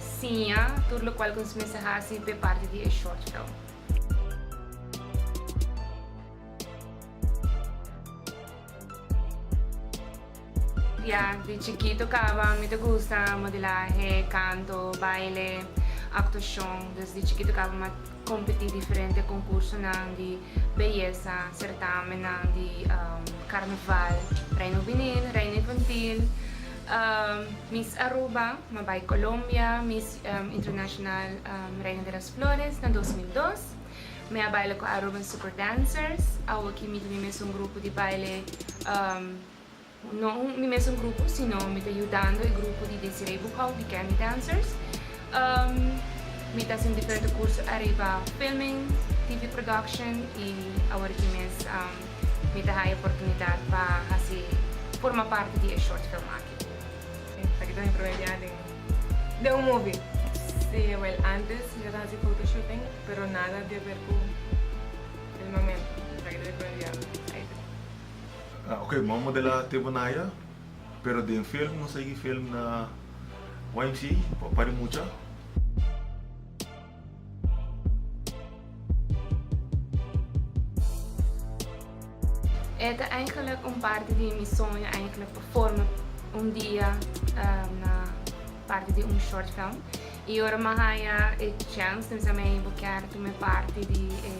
Siña tur lokual ku nos mester hasi pa e parti di e short film. Ya di chikito kaba mi ta gusta modelahe, kanto, baile, aktuashon. Dus di chikito kaba mi a. kompetí diferente konkursonan di beyesa, sertámennan di karnaval, Reina Huvinil, Reina Infantil, Miss Aruba, mi a bai Kolombia, Miss Internashonal Reina de las Flores na dos mil dos. Mi a baila ku Aruban Super Dancers, awo ki mi tin e mesun grupo di baile. No mi mesun grupo sino mi ta yudando e grupo di Desiree Boekhout di Candy Dancers. Mi ta hasi un diferente kurso ariba filming, TV production i awor aki mes mi ta haya oportunidat pa hasi forma parti di e short film aki. Esaki ta mi primer dia den un movie. Si, awel antes mi ta hasi foto shooting pero nada di aver ku el momento. Esaki ta mi primer dia. Ok m'a modelá te Bonaya pero den film no sigui film na YMCA pa pari mucha. E ta enkelijk un parti di mi soño enkelijk pa forma un dia na parti di un short film i ora m'a haña e chance mi bisa mi bo kier tuma parti di e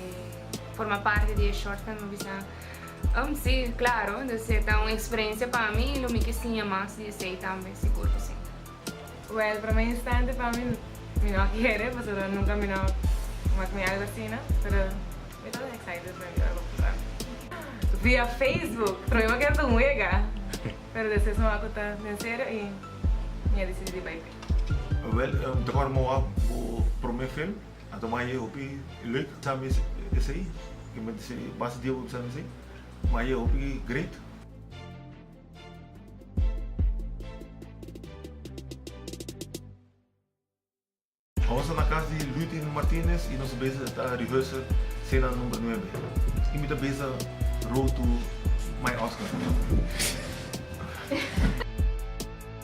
forma parti di e short film mi bisa Um, si, claro, dus e ta un experiencia pa mi y lo mi ki siña mas di esey tambe, sigur cu si. Well, prome instante pa mi, mi no a kere, pasobra nunca mi no mak mi algo asina, pero mi ta excited pa mira cu pasa. Via Facebook, prome mi a kere ta un wega, pero despues mi wak cu ta den serio y mi a decidi di bay pe. Well, mi ta acorda mi wak cu prome film. A tuma e hopi leuk tambe esei. Ke mente se basta dies hopi tambe esei. Ma e hopi great. Awor sta na cas di Lutin Martinez y nos beza ta rehearsa cena number nuebe. Y mi ta beza Road to my Oscar.